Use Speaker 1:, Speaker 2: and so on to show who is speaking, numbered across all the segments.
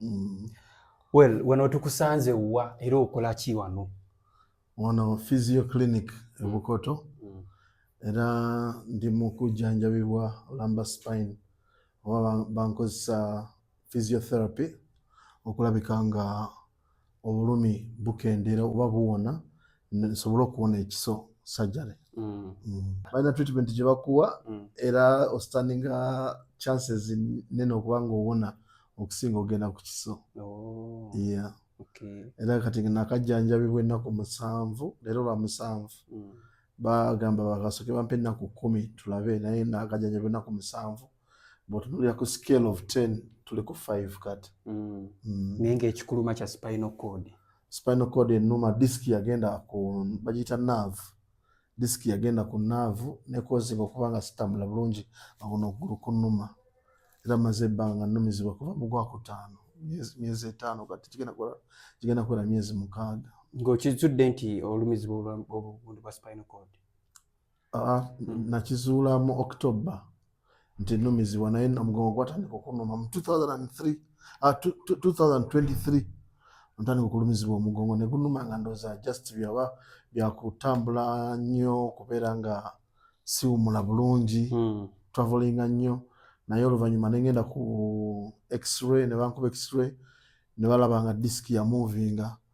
Speaker 1: mm. well wano tukusanze wa era okola ki wano wano
Speaker 2: physio clinic ebukoto mm. era ndi mu kujjanjabibwa olamba spine oba bankozesa physiotherapy okulabika nga obulumi bukendeera oba buwona nsobole okuwona ekiso surgery mm. Mm. balina treatment gye bakuwa mm. era ostanninga chances nene okuba nga owona okusinga ogenda ku kiso oh.
Speaker 1: era kati
Speaker 2: nakajjanjabibwa ennaku musanvu leero lwa musanvu bagamba bakasoke bampa ennaku kumi tulabe naye nakajjanjabibwa ennaku musanvu bwotunulira ku scale of 10 tuli ku 5 kati mm. mm. naye
Speaker 1: ngaekikuluma kya spinal cord spinal cord
Speaker 2: enuma disk yagenda ku bagiyita nerve disk yagenda ku nerve nekozinga okuba nga sitambula bulungi aguno okugulu kunuma era maze ebbanga numizibwa kuva mu gwakutaano myezi etaano kati kigenda kuwera myezi mukaaga ng'okizudde nti
Speaker 1: olumizibwa obundu bwa spinal cord Ah, hmm. nakizuula
Speaker 2: mu october nti numizibwa naye omugongo gwatandika okunuma mu 2023 ah, ntandika okulumizibwa omugongo negunuma nga ndoza just byaba byakutambula nnyo kubeera nga siwumula bulungi hmm. travelinga nnyo naye oluvanyuma nengenda ku x-ray nebankuba x-ray nebalaba nga disiki yamuvinga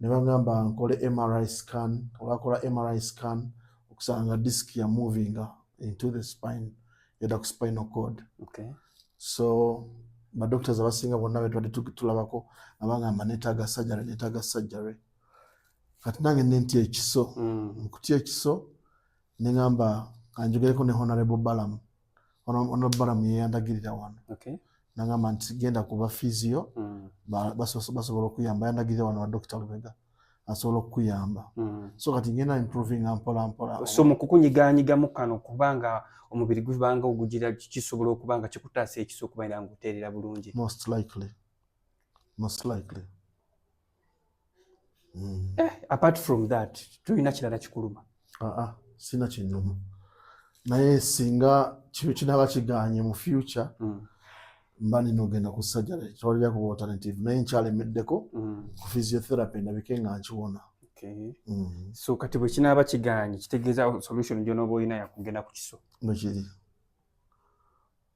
Speaker 2: ne bangamba nkole MRI scan olwakola MRI scan okusanga disk ya moving into the spine yadda ku spinal cord okay. so badoctors abasinga bonna betwadde tulabako abangamba netaaga surgery netaaga surgery kati nange nentya ekiso mm. nkutya ekiso nengamba kanjogereko ne honorable balamu ono balamu yeyandagirira wano nagamba nti genda kuba fiizi yo mm. basobola okuyamba yandagirira wano wa dokita lubega asobola okukuyamba mm. so kati ngenda improving mpola mpola so mukukunyiganyigamu
Speaker 1: kano kubanga omubiri gubanga ogugira kisobola okuba nga kikutaasa ekiso okuba era nga oteerera bulungi most likely
Speaker 2: most likely
Speaker 1: Mm. Eh, apart from that tulina kirala kikuluma aa ah, ah, sina
Speaker 2: kinuma naye singa kino kinaba kiganye mu future mm. mba nina ogenda ku sajare tewalira kuba alternative naye nkyalemeddeko mm. ku physiotherapy ndabike nga nkiwona okay. mm.
Speaker 1: so kati bwe kinaaba kiganye kitegeeza solution gyonaoba olina yakugenda ku kiso bwekiri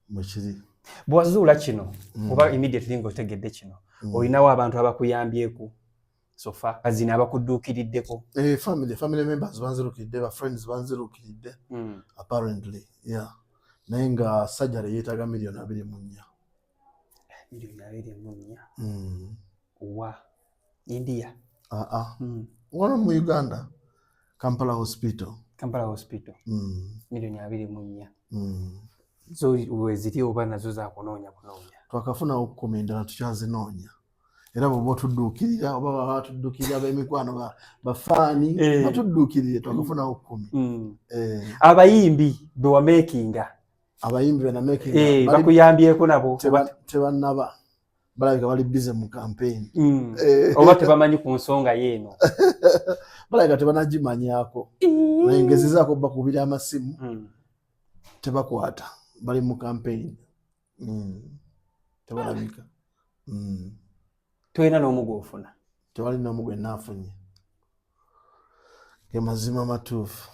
Speaker 2: mwekiri bwewazuula
Speaker 1: kino mm. oba immediately nga otegedde kino mm. olinawo abantu abakuyambyeku sofa azina abakudduukiriddeko eh, family family
Speaker 2: members banzirukiridde ba friends banzirukiridde mm. apparently yeah naye nga sajjale yeetaga miliyoni abiri mu nnya milioni abiri mu
Speaker 1: nnya mm. wa india uh -uh.
Speaker 2: Mm. wano mu uganda kampala hospital kampala hospital mm. milioni
Speaker 1: abiri mu nnya mm. zo weziri oba nazo zakunoonya kunoonya twakafuna
Speaker 2: okukuma endala tukyazinoonya era bwoba otudduukirira oba baba batuddukirira bemikwano bafaani eh. batudduukirire twakafuna okukumi mm. eh. abayimbi
Speaker 1: bewamekinga abayimbi bana
Speaker 2: making eh bakuyambyeko nabo
Speaker 1: tebanaba
Speaker 2: balabika bali busy mu campaign mm. eh. oba
Speaker 1: tebamanyi ku nsonga yeeno balabika
Speaker 2: tebanagimanyako naye ngezezaako bakubira amasimu mm. tebakwata bali mu campaign mm. tebalabika mm. tolina
Speaker 1: n'omu gwofuna tewali n'omu gwe
Speaker 2: naafunye ge mazima matuufu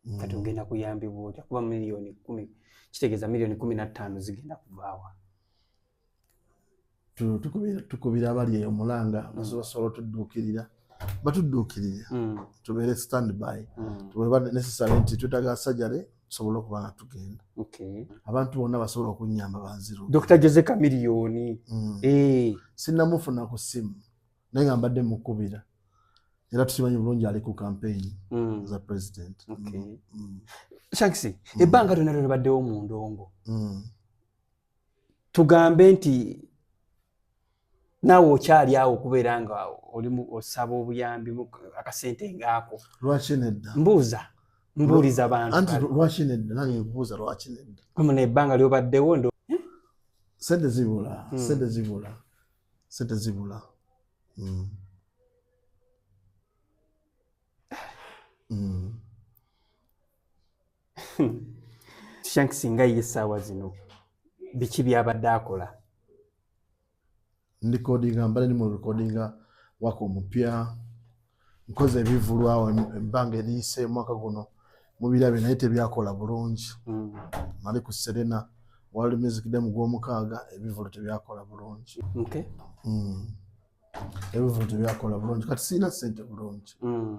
Speaker 1: mm. kati ogenda kuyambibwa otya kuba miliyoni kumi kitegeeza miliyoni kumi na ttaano zigenda kuvaawa
Speaker 2: tukubira abali eyo mulanga mm. basobola otudduukirira batudduukirire mm. tubeere standby tuweba necessary nti twetaga sajare tusobole okuba nga tugenda abantu bonna basobola okunyamba banziru dr jose kamiliyoni
Speaker 1: mm. eh.
Speaker 2: sinamufuna ku simu naye nga mbadde mukubira era tukimanyi bulungi ali ku campaign mm. za president mm.
Speaker 1: mm. shanks mm. ebbanga lyona lyona baddewo mu ndongo mm. tugambe nti naawe okyali awo okubeera nga oli osaba obuyambi akasente ngaako lwaki nedda
Speaker 2: mbuuza
Speaker 1: mbuuliza bantu anti lwaki nedda
Speaker 2: nange nkubuuza lwaki nedda muna ebbanga lyobaddewo
Speaker 1: ndo eh? sente
Speaker 2: zibula hmm. sente zibula sente zibula hmm.
Speaker 1: Hmm. shank singa ye essaawa zino biki byabadde akola
Speaker 2: ndikodinga mbale ni mu rekodinga waka omupya nkoze ebivulwawo ebbanga eriyise omwaka guno mubirabe naye tebyakola bulungi hmm. mali ku serena world music day mu gwomukaaga ebivulu tebyakola bulungi hmm. ebivulu tebyakola bulungi kati sirina sente bulungi hmm.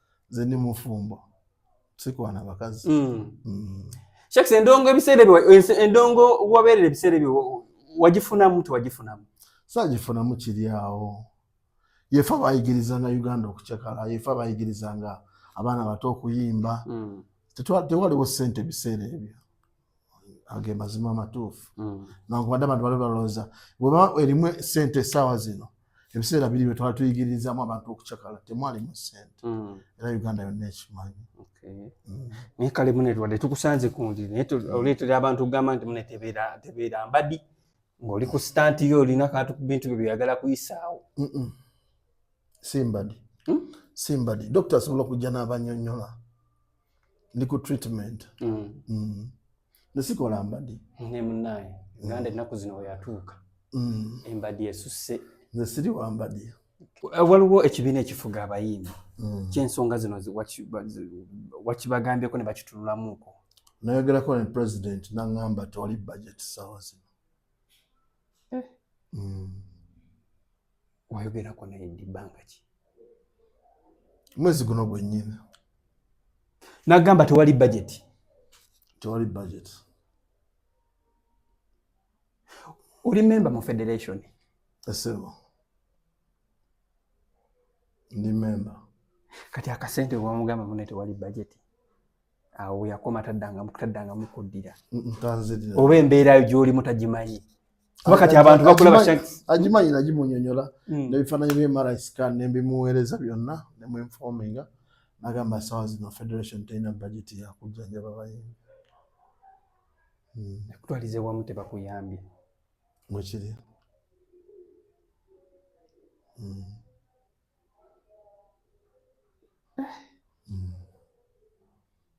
Speaker 2: nze ndi mufumbo sikwana bakazi mm. mm.
Speaker 1: shakes endongo ebiseera ebyo endongo wabeerera ebiseera ebyo wagifunamu tewagifunamu sagifunamu
Speaker 2: kiri awo yefe abayigirizanga uganda okucakala yefe abayigirizanga abaana bato okuyimba mm. tewaliwo sente ebiseera ebyo ge mazima amatuufu mm. nankubadde abantu bali balowooza bweba erimu sente esaawa zino ebiseera biri byetwali tuyigirizamu abantu okucakala temwalimu sente mm. era uganda yonna ekimanyi mm.
Speaker 1: naye kale mune lwadde tukusanze kundi naye oleetera abantu okugamba nti mune tebeera mbadi ngaoli ku sitanti yo olina kantu ku bintu byo byoyagala kuyisaawo si mbadi
Speaker 2: hmm? si mbadi dokita asobola okujja n'abanyonyola ndi ku treatment mm. mm. nesikola mbadi ne munaye
Speaker 1: nganda ennaku zino weyatuuka mm. embadi esusse nze siri wambadi
Speaker 2: eh, waliwo
Speaker 1: ekibiina ekifuga abayimbi mm. kyensonga zino wakibagambyeko ne bakitunulamuko nayogerako ne
Speaker 2: president nangamba tewali budget sawa zino eh. mm.
Speaker 1: wayogerako naye ndi bbanga ki
Speaker 2: mwezi guno gwennyini
Speaker 1: nagamba tewali bajeti tewali bajeti oli memba mu federation esebo
Speaker 2: ndi memba kati akasente
Speaker 1: wamugamba mune tewali bajeti awo yakoma taddanga taddanga mukuddira oba embeerayo gyolimu tagimanyi kuba kati abantu bakula bashanks agimanyi nagimunyonyola
Speaker 2: hmm. nebifaananyi bye mri scan nembimuweereza byonna nemwinforminga nagamba sawa zino federation terina bajeti yakujjanjaba bayimbi hmm.
Speaker 1: ekutwalize wamu tebakuyambye mwekiri
Speaker 2: hmm. eh.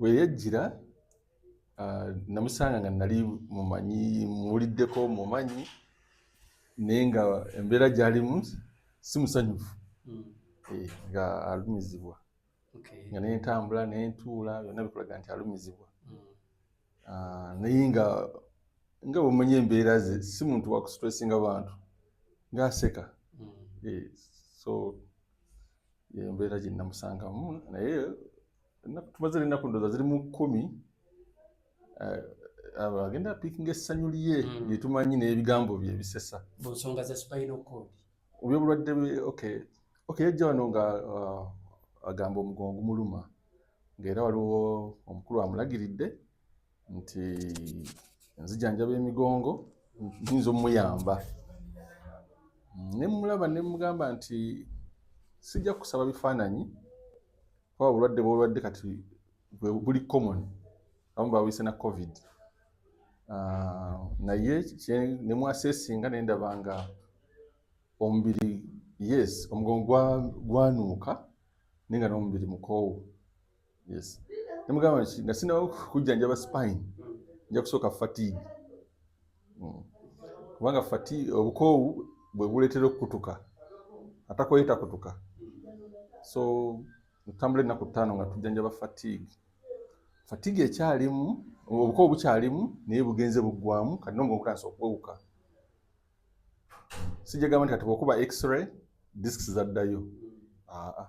Speaker 1: weyajjira
Speaker 3: ah, namusanga nga nali mumanyi muwuliddeko mumanyi naye nga embeera gyalimu si musanyufu hmm. eh, nga alumizibwa nga naye ntambula naye ntuula byonna bikulaga nti alumizibwa hmm. ah, naye nga nga bwemanyi embeera ze si muntu wakusitresinga bantu ngaaseka hmm. eh, so embeera gyenamusangamu naye ennaku tumaze n'ennaku ndooza ziri mu kkumi eh, agenda apiikinga essanyu lye hmm. lyetumanyi n'ebigambo bye ebisesa mu nsonga za spinal
Speaker 1: cord obyobulwadde bwe
Speaker 3: okay okay yajja wano nga uh, agamba omugongo gumuluma ng'era waliwo omukulu amulagiridde nti nzijanjaba emigongo nyinza omuyamba nemulaba nemugamba nti sijja kusaba bifaananyi kuba obulwadde bwolwadde kati buli common amu bawise na covid ah, naye nemwasesinga nendaba nga omubiri yes omugongo gwanuuka naye nga nomubiri mukoowu yes nemugamba nga sinaba kujjanjaba spine nja kusooka fatigue hmm. kubanga fati obukoowu bwe buleetera okukutuka atakoye takutuka so ntambula ennaku ttaano nga tujjanjaba fatigue fatigue ekyalimu obukoowu bukyalimu naye bugenze buggwamu kati nomuga okutandisa okwewuka sijagamba nti kati bwokuba x-ray disks zaddayo aa ah, ah.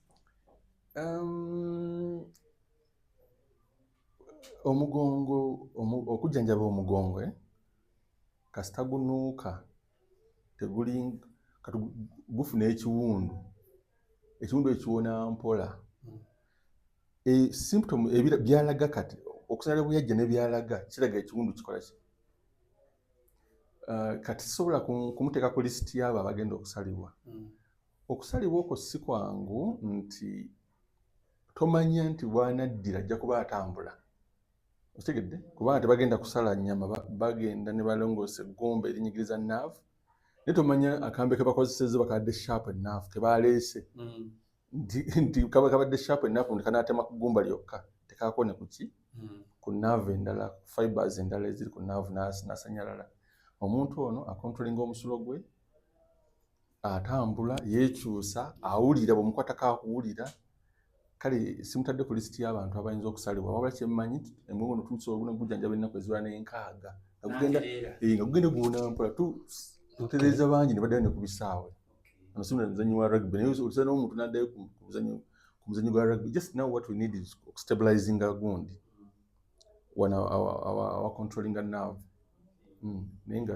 Speaker 1: Um,
Speaker 3: omugongo omu, okujjanjaba omugongo eh? kasita gunuuka teguli kati gufuna ekiwundu ekiwundu ekiwona mpola e, symptom ebira byalaga kati okusinala bweyajja nebyalaga kiraga ekiwundu kikola ki uh, kati sisobola kumuteeka ku lisiti yaabo abagenda okusalibwa mm. Okusalibwa okwo si kwangu nti tomanya nti wanaddira ajja kuba atambula okitegedde kubanga tebagenda kusala nyama bagenda ne balongoosa eggumba erinyigiriza naavu naye tomanya akambe ke bakozesezza bakabadde sharp enaavu ke baleese mm. nti kaba kabadde sharp enaavu nti kanaatema ku ggumba lyokka tekaako ne kuki mm. ku naavu endala fibers endala eziri ku naavu nasanyalala omuntu ono akontrolinga omusulo gwe atambula yekyusa awulira bwemukwata kakuwulira kale simutadde ku lisiti y'abantu abayinza okusalibwa wabula kyemmanyi emugono tuusa oguna gujjanjaba ennaku eziba n'enkaaga nga eh, gugenda guwunampola tutereeza bangi ne baddayo ne ku bisaawe ano simuna muzanyi wa rugby naye olisa n'omuntu n'addayo ku muzanyi gwa rugby just now what we need is okustabilizinga gundi wana awacontrollinga naavu hmm, naye nga